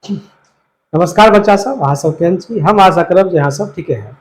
नमस्कार बच्चा सब अहाँ सब केहन छी हम आशा करब जे अहाँ सब ठीके है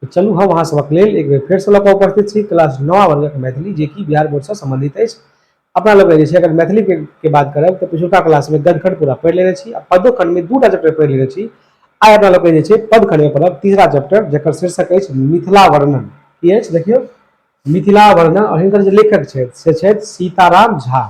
तो चलू हम अहाँ सबक लेल एक बेर फेर से लऽ उपस्थित छी क्लास नवा वर्गक मैथिली जे कि बिहार बोर्ड से संबंधित अछि अपना लोग जे छै अगर मैथिली के, के बात करब तऽ पिछुलका क्लास में गदखंड पूरा पढ़ि लेने छी आ पदो खंड में दूटा चैप्टर पढ़ि लेने छी आइ अपना लोग जे छै पद खंड में पढ़ब तीसरा चैप्टर जकर शीर्षक अछि मिथिला वर्णन की अछि देखियौ मिथिला वर्णन और हिनकर जे लेखक छथि से छथि सीताराम झा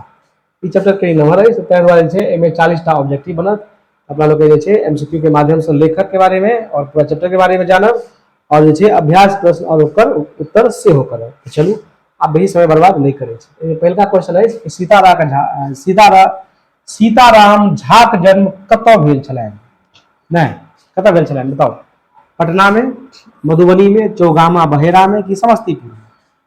ई चैप्टर कहीं नमहर अछि ताहि दुआरे छै एहिमे चालीसटा ऑब्जेक्टिव बनत अपना लोग जे छै एमसीक्यू के माध्यम से लेखक के बारे में और पूरा चैप्टर के बारे में जानब और जे छै अभ्यास प्रश्न और ओकर उत्तर सेहो करब तो चलू आप बेसी समय बर्बाद नहीं करे छी पहिलका क्वेश्चन अछि कि सीतारा का झा सीतारा सीताराम झा के जन्म कतऽ भेल छलनि नहीं कतऽ भेल छलनि बताओ पटना में मधुबनी में चौगामा बहेरा में कि समस्तीपुर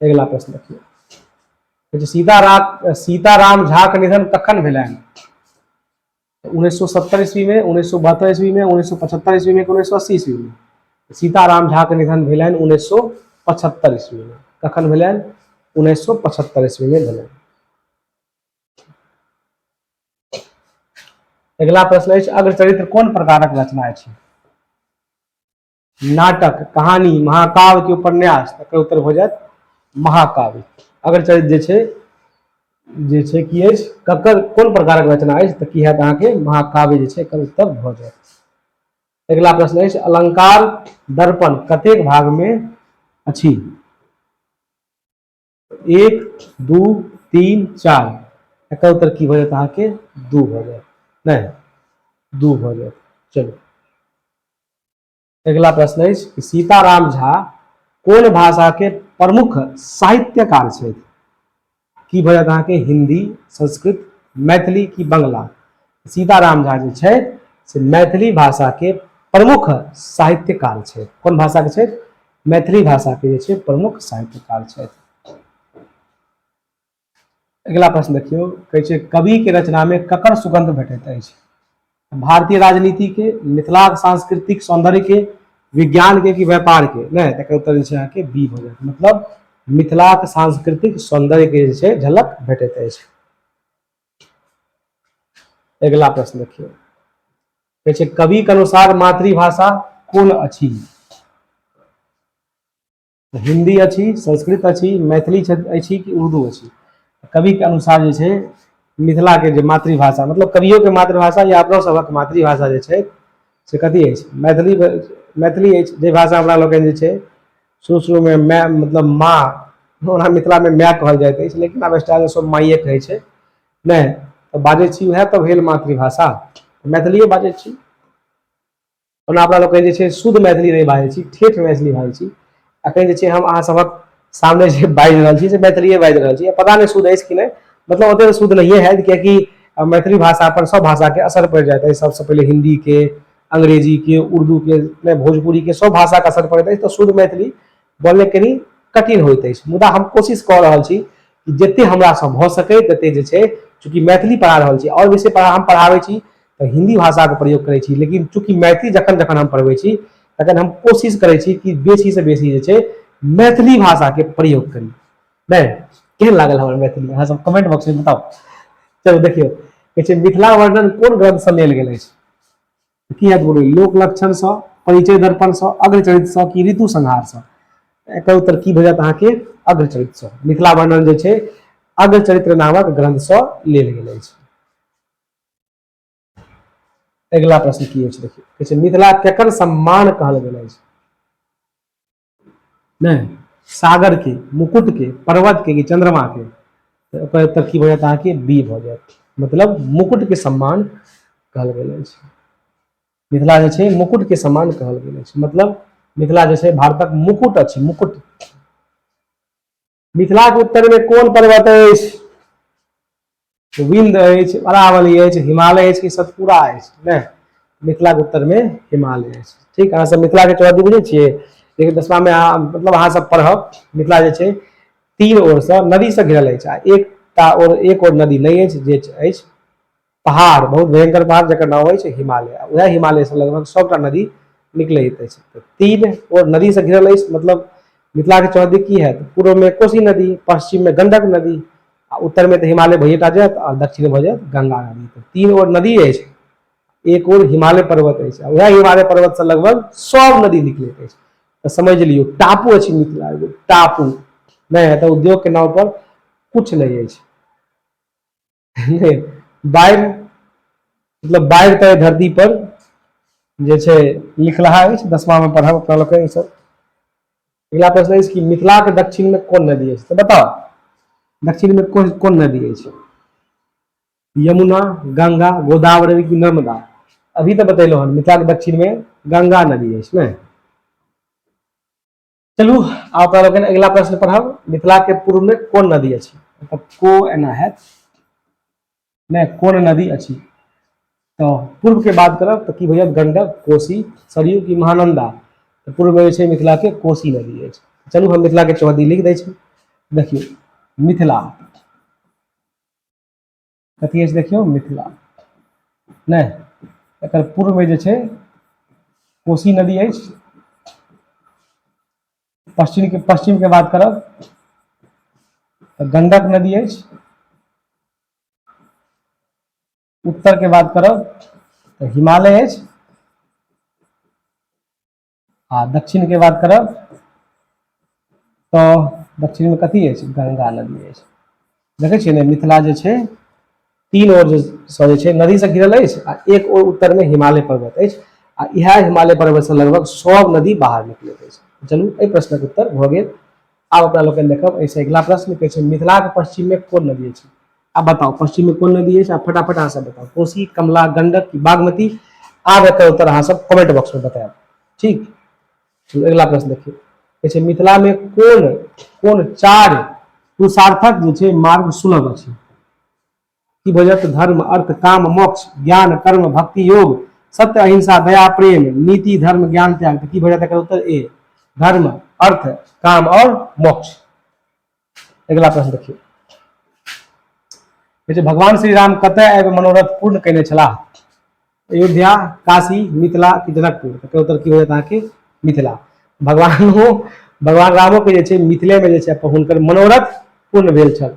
अगिला प्रश्न देखियौ कहै छै सीताराम सीताराम झाके निधन कखन भेलनि उन्नैस सए सत्तर ईस्वीमे उन्नैस सए बहत्तर ईस्वीमे उन्नैस सए पचहत्तर ईस्वीमे कि उन्नैस सए अस्सी ईस्वीमे सीताराम झाके निधन भेलनि उन्नैस सए पचहत्तर ईस्वीमे कखन भेलनि उन्नैस सए पचहत्तर ईस्वीमे भेलनि अगिला प्रश्न अछि अग्रचरित्र कोन प्रकारक रचना अछि नाटक कहानी महाकाव्य के उपन्यास तकर उत्तर हो जात महाकाव्य अगर चल जे छै जे छै की अछि ककर कोन प्रकारक रचना अछि तऽ की हैत अहाँके महाकाव्य जे छै एकर उत्तर भऽ जायत अगिला प्रश्न अछि अलंकार दर्पण कतेक भागमे अछि एक दू तीन चार एकर उत्तर की भऽ अहाँ के दू भऽ जायत नहीं दू भऽ जायत चलू अगला प्रश्न है कि सीताराम झा कौन भाषा के प्रमुख साहित्यकार छथि की भऽ जायत अहाँके हिंदी संस्कृत मैथिली की बंगला सीताराम झा जे छथि से मैथिली भाषाके प्रमुख साहित्यकार छथि कोन भाषाके छथि मैथिली भाषाके जे छै प्रमुख साहित्यकार छथि अगिला प्रश्न देखियौ कहै छै कविके रचनामे ककर सुगंध भेटैत अछि भारतीय राजनीतिके मिथिला सांस्कृतिक सौंदर्यके विज्ञानके कि व्यापारके नहि तकर उत्तर जे छै अहाँके बी भऽ जायत मतलब मिथिलाक सांस्कृतिक सौंदर्यके जे छै झलक भेटैत अछि अगिला प्रश्न देखियौ कहै छै कवि के अनुसार मातृभाषा कोन अछि हिंदी अछि संस्कृत अछि मैथिली अछि कि उर्दू अछि कवि के अनुसार जे छै मिथिला के जे मातृभाषा मतलब कवियो के मातृभाषा या अपना सबक मातृभाषा जे छै से कथी अछि मैथिली मैथिली अछि जे भाषा हमरा लोकनि जे छै शुरू शुरूमे माय मतलब माँ ओना मिथिलामे माय कहल जाइत अछि लेकिन आब स्टाइल सब माइए कहै छै नहि तऽ बाजै छी उएह तऽ भेल मातृभाषा मैथिलिए बाजै छी ओना अपना लोकनि जे छै शुद्ध मैथिली नहि बाजै छी ठेठ मैथिली बाजै छी अखन जे छै हम अहाँ सभक सामने जे बाजि रहल छी से मैथिलिए बाजि रहल छी पता नहि शुद्ध अछि कि नहि मतलब ओतेक तऽ शुद्ध नहिए हैत कियाकि मैथिली भाषा पर सब भाषाके असर पड़ि जाइत अछि सबसँ पहिले हिन्दीके अंग्रेजी के उर्दू के नहि भोजपुरी के सब भाषा के असर पड़ैत अछि तऽ शुद्ध मैथिली बोलने कनी कठिन होइत अछि मुदा हम कोशिश कऽ रहल छी कि जते हमरा से भऽ सकै तते जे छै चूँकि मैथिली पढ़ा रहल छी आओर विषय पढ़ा हम पढ़ाबै छी तऽ हिंदी भाषा के प्रयोग करै छी लेकिन चूँकि मैथिली जखन जखन हम पढ़बै छी तखन हम कोशिश करै छी कि बेसी से बेसी जे छै मैथिली भाषा के प्रयोग करी नहि केहन लागल हमर मैथिली अहाँ सब कमेंट बॉक्स में बताउ चलू देखियौ कहै छै मिथिला वर्णन कोन ग्रंथ से लेल गेल अछि की हत बोलू लोक लक्षण से परिचय दर्पण से अग्रचरित से की ऋतु संहार से एकर उत्तर की भऽ जायत अहाँके अग्रचरित से मिथिला वर्णन जे छै अग्रचरित्र नामक ग्रंथ से लेल गेल अछि अगिला प्रश्न की अछि देखियौ कहै छै मिथिला केकर सम्मान कहल गेल अछि नहि सागर के मुकुट के पर्वत के कि चंद्रमा के तऽ ओकर उत्तर की भऽ जायत अहाँके बी भऽ जायत मतलब मुकुट के सम्मान कहल गेल अछि मिथिला जे छै मुकुट के सम्मान कहल गेल अछि मतलब मिथिला जे छै भारतक मुकुट अछि मुकुट मिथिलाक उत्तरमे कोन पर्वत अछि विन्द अछि अरावली अछि हिमालय अछि कि सतपुरा अछि ने मिथिलाक उत्तरमे हिमालय अछि ठीक अहाँसभ मिथिलाके चौधरी बुझै छियै लेकिन दसमामे अहाँ मतलब अहाँसभ पढ़ब मिथिला जे छै तीन ओरसँ नदीसँ घिरल अछि आ एकटा ओर एक ओर नदी नहि अछि जे अछि पहाड़ बहुत भयंकर पहाड़ जकर नाम अछि हिमालय वएह हिमालय से लगभग सभटा नदी निकलैत अछि तऽ तीन ओ नदी से घिरल अछि मतलब मिथिला के चौहदी की हैत पूर्व में कोसी नदी पश्चिम में गंडक नदी आ उत्तर में तऽ हिमालय भैयेटा जायत आ दक्षिण भऽ जायत गंगा नदी तऽ तीन ओर नदी अछि एक ओर हिमालय पर्वत अछि आ वएह हिमालय पर्वत से लगभग सब नदी निकलैत अछि तऽ समझ लियौ टापू अछि मिथिला एगो टापू नहि है तऽ उद्योग के नाम पर कुछ नहीं अछि बाढ़ि मतलब बाढ़ि तऽ धरती पर जे छै लिखलाहा अछि दसमामे पढ़ब अपना लोकके ई सब अगिला प्रश्न अछि कि मिथिलाके दक्षिणमे कोन नदी अछि तऽ बताउ दक्षिणमे कोन कोन नदी अछि यमुना गंगा गोदावरी की नर्मदा अभी तऽ बतेलहुँ हन मिथिलाके दक्षिणमे गंगा नदी अछि ने चलू आब तोरा लोकनि अगिला प्रश्न पढ़ब मिथिला के पूर्व में कोन नदी अछि मतलब को एना है ने कोन नदी अछि तो पूर्व के बात करब तो की भैया गंडक कोसी सरयू की महानंदा तो पूर्व में छै मिथिला के कोसी नदी अछि चलू हम मिथिला के चौहदी लिख दै छी देखियौ मिथिला कथी अछि देखियौ मिथिला नहि एकर पूर्वमे जे छै कोसी नदी अछि पश्चिमके पश्चिमके बात करब तऽ गंडक नदी अछि उत्तरके बात करब तऽ हिमालय अछि आ दक्षिण के बात करब तो दक्षिण में कथी है गंगा नदी है देखे छे मिथिला जे छे तीन ओर सजे छे नदी से घिरल है आ एक ओर उत्तर में हिमालय पर्वत है आ यह हिमालय पर्वत से लगभग सब नदी बाहर निकले है चलू ए प्रश्न के उत्तर भ गेल आब अपना लोकनि देखब एहिसँ अगिला प्रश्न कहै छै मिथिलाक पश्चिममे कोन नदी अछि आब बताउ पश्चिममे कोन नदी अछि आ फटाफट अहाँ सब बताउ कोसी कमला गंडक की बागमती आब एकर उत्तर अहाँ सब कमेंट बॉक्समे बतायब ठीक चलू अगिला प्रश्न देखियौ कहै छै मिथिलामे कोन कोन चारि पुरुषार्थक जे छै मार्ग सुलभ अछि की भजत धर्म अर्थ काम मोक्ष ज्ञान कर्म भक्ति योग सत्य अहिंसा दया प्रेम नीति धर्म ज्ञान त्याग की भजत एकर उत्तर ए धर्म अर्थ काम और मोक्ष अगला प्रश्न देखिए कहै भगवान श्री राम कत आबि मनोरथ पूर्ण कयने छलाह अयोध्या काशी मिथिला की जनकपुर तकर उत्तर की होयत अहाँके मिथिला भगवान हो भगवान रामो के जे छै मिथिले में जे छै हुनकर मनोरथ पूर्ण भेल छल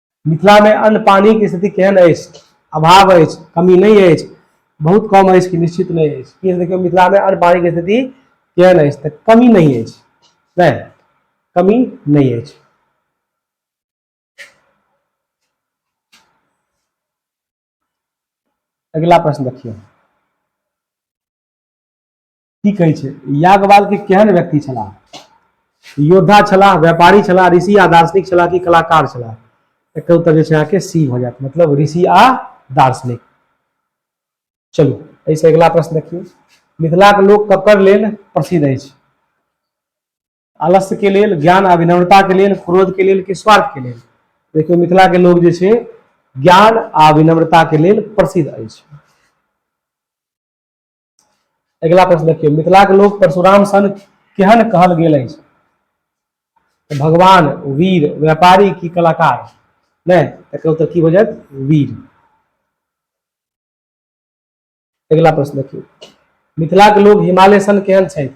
मिथिला में अन्न पानी की स्थिति केहन अछि अभाव अछि कमी नहीं अछि बहुत कम अछि कि निश्चित नहीं अछि कि देखियौ मिथिला में अन्न पानी की स्थिति केहन अछि तऽ कमी नहीं अछि नहि कमी नहीं अछि अगला प्रश्न देखिए की कहै छै यागवाल के केहन व्यक्ति छलाह योद्धा छलाह व्यापारी छलाह ऋषि आ दार्शनिक छलाह कि कलाकार छलाह एकर उत्तर जे छै अहाँके सी भऽ जायत मतलब ऋषि आ दार्शनिक चलू एहिसँ अगिला प्रश्न देखियौ मिथिलाके लोक ककर लेल प्रसिद्ध अछि आलस्यके लेल ज्ञान आ विनम्रताके लेल क्रोधके लेल कि स्वार्थके लेल देखियौ मिथिलाके लोक जे छै ज्ञान आ विनम्रताके लेल प्रसिद्ध अछि अगिला प्रश्न देखियौ मिथिलाक लोक परशुराम सन केहन कहल गेल अछि तऽ भगवान वीर व्यापारी की कलाकार नहि एकर उत्तर की हो जायत वीर अगिला प्रश्न देखियौ मिथिलाक लोक हिमालय सन केहन छथि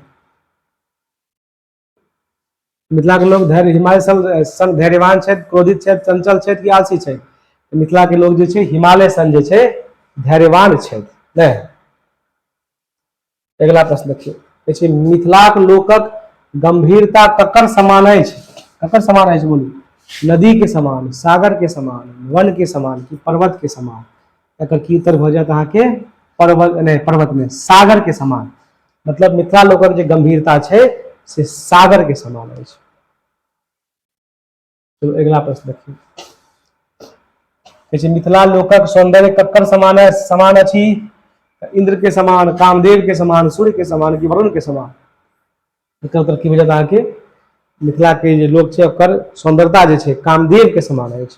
मिथिलाके लोक धैर्य हिमालय संग धैर्यवान छथि क्रोधित छथि चंचल छथि कि आलसी छथि मिथिलाके लोक जे छै हिमालय संग जे छै धैर्यवान छथि नहि अगिला प्रश्न देखियौ कहै छै मिथिलाक लोकक गंभीरता ककर समान अछि ककर समान अछि बोलू नदी के समान सागर के समान वन के समान कि पर्वत के समान एकर की उत्तर भऽ जायत अहाँके पर्वत नहि पर्वत नहि सागर के समान मतलब मिथिला लोकक जे गंभीरता छै से सागर के समान अछि चलो अगला प्रश्न देखिए कहै मिथिला लोकक सौंदर्य ककर समान समान अछि इंद्र के समान कामदेव के समान सूर्य के समान कि वरुण के समान एकर उत्तर की बुझत अहाँके मिथिला के जे लोक छै ओकर सौंदर्यता जे छै कामदेव के समान अछि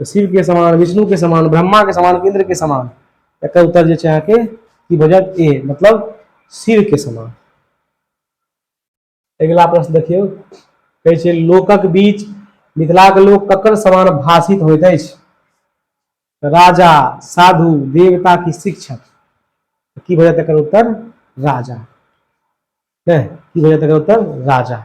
तऽ शिवके समान विष्णुके समान ब्रह्माके समान इन्द्रके समान एकर उत्तर जे छै अहाँके की भऽ जायत ए मतलब शिवके समान अगिला प्रश्न देखियौ कहै छै लोकक बीच मिथिलाके लोक ककर समान भाषित होइत अछि राजा साधु देवता की शिक्षक की भऽ जायत एकर उत्तर राजा की भऽ जायत एकर उत्तर राजा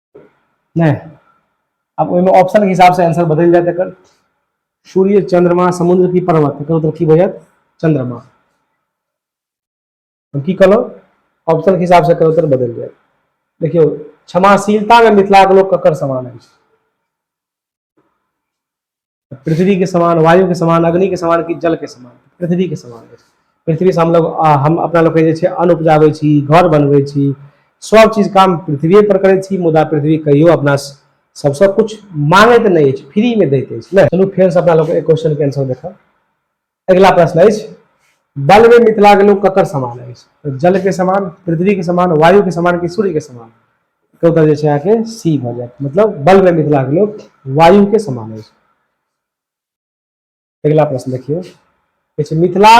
नहि आब ओहिमे ऑप्शनके हिसाबसँ आंसर बदलि जायत एकर सूर्य चंद्रमा समुद्र की पर्वत एकर उत्तर की भऽ जायत चंद्रमा हम की कहलहुँ ऑप्शनके हिसाबसँ एकर उत्तर बदलि जायत देखियौ क्षमाशीलतामे मिथिलाके लोक ककर समान अछि पृथ्वी के समान वायु के समान अग्नि के समान कि जल के समान पृथ्वी के समान अछि पृथ्वी से हम लोग आ, हम अपना लोग के जे छै अन्न उपजाबै छी घर बनबै छी सब चीज काम पृथ्वीए पर करै छी मुदा पृथ्वी कहियो अपना स- सबसँ कुछ मांगैत नहि अछि फ्री में दैत अछि नहि चलू फेर से अपना लोग एक क्वेश्चन के आंसर देखब अगिला प्रश्न अछि बल में मिथिला के लोग ककर समान अछि तो जल के समान पृथ्वी के समान वायु के समान कि सूर्य के समान तो उत्तर जैसे यहाँ के सी भ जाए मतलब बल में मिथिला के लोग वायु के समान अछि अगिला प्रश्न देखियो मिथिला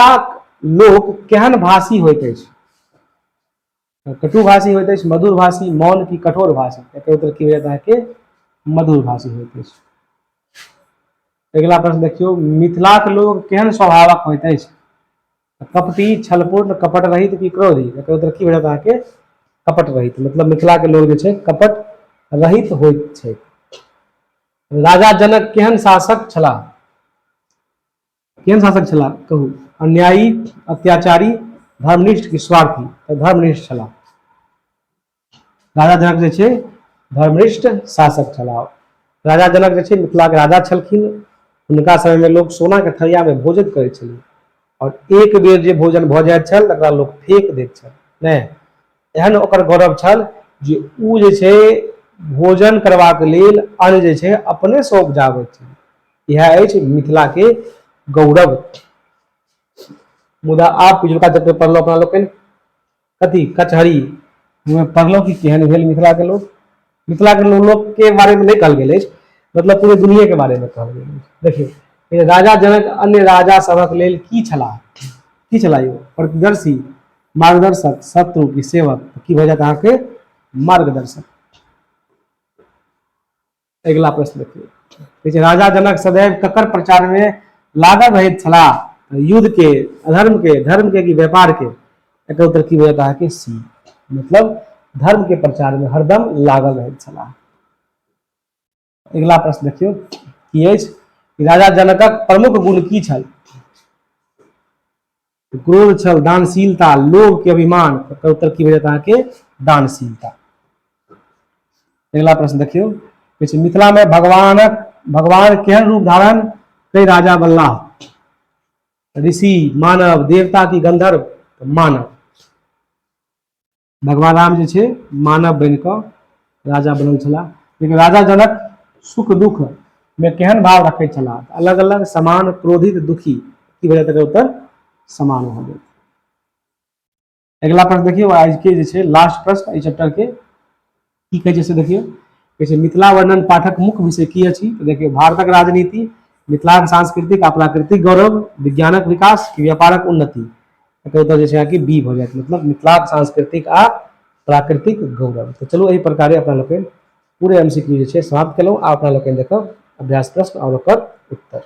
लोग केहन भाषी होते अछि कटु भाषी होइत अछि मधुर भाषी मौन की कठोर भाषी एकर उत्तर की होयत अहाँके मधुर भाषी होइत अछि अगिला प्रश्न देखियौ मिथिलाक लोक केहन स्वभावक होइत अछि कपटी छलपूर्ण कपट रहित की क्रोधी एकर उत्तर की होयत अहाँके कपट रहित मतलब मिथिलाके लोक जे छै कपट रहित होइत छै राजा जनक केहन शासक छलाह केहन शासक छलाह कहू अन्यायी अत्याचारी धर्मनिष्ठ कि स्वार्थी तऽ धर्मनिष्ठ छलाह राजा जनक जे छै धर्मनिष्ठ शासक छलाह राजा जनक जे छै मिथिलाके राजा छलखिन हुनका समयमे लोक सोनाके थरियामे भोजन करै छलै आओर एक बेर जे भोजन भऽ जाइत छल तकरा लोक फेक दैत छल नहि एहन ओकर गौरव छल जे ओ जे छै भोजन करबाक लेल अन्न जे छै अपनेसँ उपजाबैत छल इएह अछि मिथिलाके गौरव मुदा आब पिछुलका जते पढ़लहुँ अपना लोकनि कथी कचहरी पढ़लहुँ कि केहन भेल मिथिलाके लोक मिथिला के लोक के बारे में नहीं कहल गया मतलब पूरे दुनिया के बारे में कहल गया देखिए राजा जनक अन्य राजा सबक लेल की छला की छला यो प्रतिदर्शी मार्गदर्शक शत्रु की सेवक की भऽ जायत अहाँके मार्गदर्शक अगला प्रश्न देखिए राजा जनक सदैव ककर प्रचार में लागल रहे छला युद्ध के अधर्म के धर्म के कि व्यापार के एकर उत्तर की होयत अहाँके सी मतलब धर्म के प्रचार में हरदम लागल रहे छलाह अगिला प्रश्न देखियो की अछि राजा जनकक प्रमुख गुण की छल क्रोध छल दानशीलता लोभ के अभिमान एकर उत्तर की होयत अहाँके दानशीलता अगला प्रश्न देखियो किछु मिथिला में भगवान भगवान केहन रूप धारण कई राजा बल्ला ऋषि मानव देवता की गंधर्व तो मानव भगवान राम जी छे मानव बन क राजा बनल छला लेकिन राजा जनक सुख दुख में केहन भाव रखे छला अलग अलग समान क्रोधित दुखी की वजह तक उत्तर समान हो गए अगिला प्रश्न देखियौ आज के जे छै लास्ट प्रश्न एहि चैप्टर के की कहै छै से देखियौ कहै छै मिथिला वर्णन पाठक मुख्य विषय की अछि तऽ देखियौ भारतक राजनीति मिथिलाक सांस्कृतिक आ प्राकृतिक गौरव विज्ञानक विकास कि व्यापारक उन्नति एकर उत्तर जे छै अहाँके बी भऽ जायत मतलब मिथिलाक सांस्कृतिक आ प्राकृतिक गौरव तऽ चलू एहि प्रकारे अपना लोकनि पूरे एम सी क्यू जे छै समाप्त केलहुँ आ अपना लोकनि देखब अभ्यास प्रश्न आओर ओकर उत्तर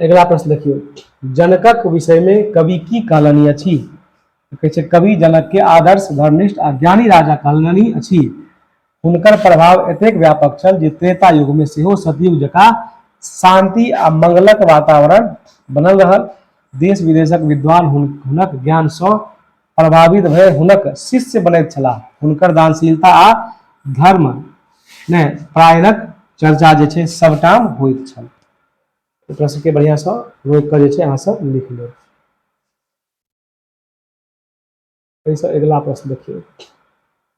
अगिला प्रश्न देखियौ जनकक विषयमे कवि की कहलनि अछि कहै छै कवि जनकके आदर्श धर्मनिष्ठ आ ज्ञानी राजा कहलनि अछि हुनकर प्रभाव एतेक व्यापक छल जे त्रेता युगमे सेहो सतयुग जकाँ शांति आ मंगलक वातावरण बनल रहल देश विदेशक विद्वान हुनक ज्ञानसँ प्रभावित भय हुनक शिष्य बनैत छलाह हुनकर दानशीलता आ धर्म ने प्रायणक चर्चा जे छै सबटाम होइत छल एकरा सबके बढ़िया से रोक कर जे छै अहाँ सब लिख लेब एहिसँ अगिला प्रश्न देखियौ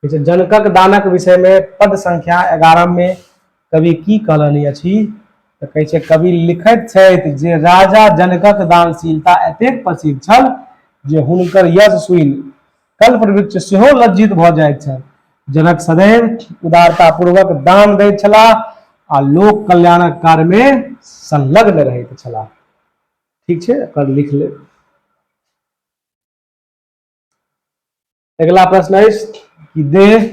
जनकक दानक विषय में पद संख्या एगारह में कवि की कहलनि अछि तऽ कहै छै कवि लिखैत छथि जे राजा जनकक दानशीलता एतेक प्रसिद्ध छल जे हुनकर यश सुनि कल्पवृक्ष सेहो लज्जित भऽ जाइत छल जनक सदैव उदारतापूर्वक दान दैत छलाह आ लोक कल्याणक कार्यमे संलग्न रहैत छलाह ठीक छै एकर लिख लेब अगिला प्रश्न अछि कि देह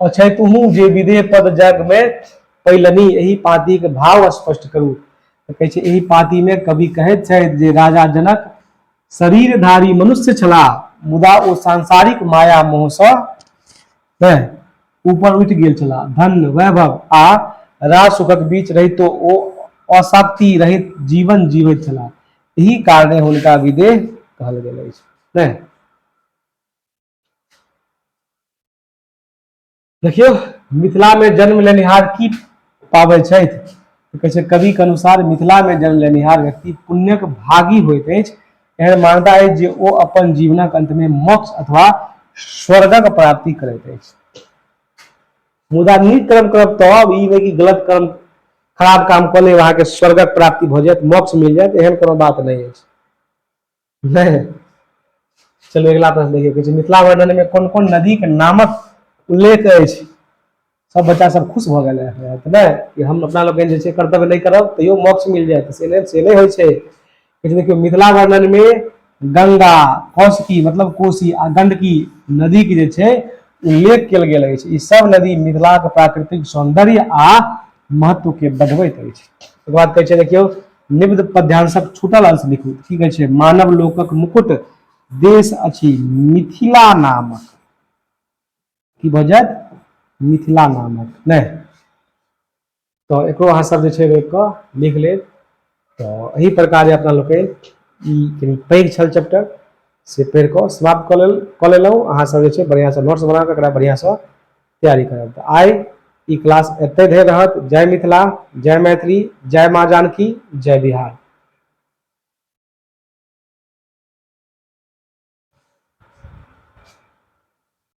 अछै तुहू जे विदेह पद जग में पैलनी एहि पाती के भाव स्पष्ट करू तऽ कहै छै एहि पाती में कवि कहैत छथि जे राजा जनक शरीरधारी मनुष्य छलाह मुदा ओ सांसारिक माया मोह से हैं, ऊपर उठि गेल छलाह धन वैभव आ राज सुखक बीच रहितो ओ अशांति रहित जीवन जीवैत छलाह एहि कारणे हुनका विदेह कहल गेल अछि नहि देखियौ मिथिलामे जन्म लेनिहार की पाबै छथि तऽ कहै छै कविके अनुसार मिथिलामे जन्म लेनिहार व्यक्ति पुण्यक भागी होइत अछि एहन मान्यता अछि जे ओ अपन जीवनक अन्तमे मोक्ष अथवा स्वर्गक प्राप्ति करैत अछि मुदा नीक कर्म करब तब ई नहि कि गलत कर्म खराब काम कऽ लेब अहाँके स्वर्गक प्राप्ति भऽ जायत मोक्ष मिल जायत एहन कोनो बात नहि अछि नहि चलू अगिला प्रश्न देखियौ किछु मिथिला वर्णन में कोन कोन नदी के नामक उल्लेख अछि सब बच्चा सब खुश भऽ गेल है तऽ नहि कि हम अपना लोकनि जे छै कर्तव्य नहि करब तैयो मोक्ष मिल जायत से नहि से नहि होइ छै देखियो मिथिला वर्णन में गंगा कौशकी मतलब कोसी आ गंडकी नदी के जे उल्लेख कल गया अछि सब नदी मिथिला के प्राकृतिक सौंदर्य आ महत्व के बढ़बैत अछि ओकर बाद कहै छै देखियौ निब्द पद्यांशक छूटल अंश लिखू की कहै छै मानव लोकक मुकुट देश अछि मिथिला नामक की भऽ जायत मिथिला नामक नहि तऽ एकरो अहाँ सब जे छै रोकि कऽ लिख लेब तऽ एहि प्रकार जे अपना लोकनि ई कनि पैघ छल चैप्टर से पढ़ि कऽ समाप्त कऽ लेल कऽ लेलहुँ अहाँ सब जे छै बढ़िआँसँ नोट्स बना कऽ एकरा बढ़िआँसँ तैयारी करब तऽ आइ ई क्लास एतै धरि रहत जय मिथिला जय मैथिली जय माँ जानकी जय बिहार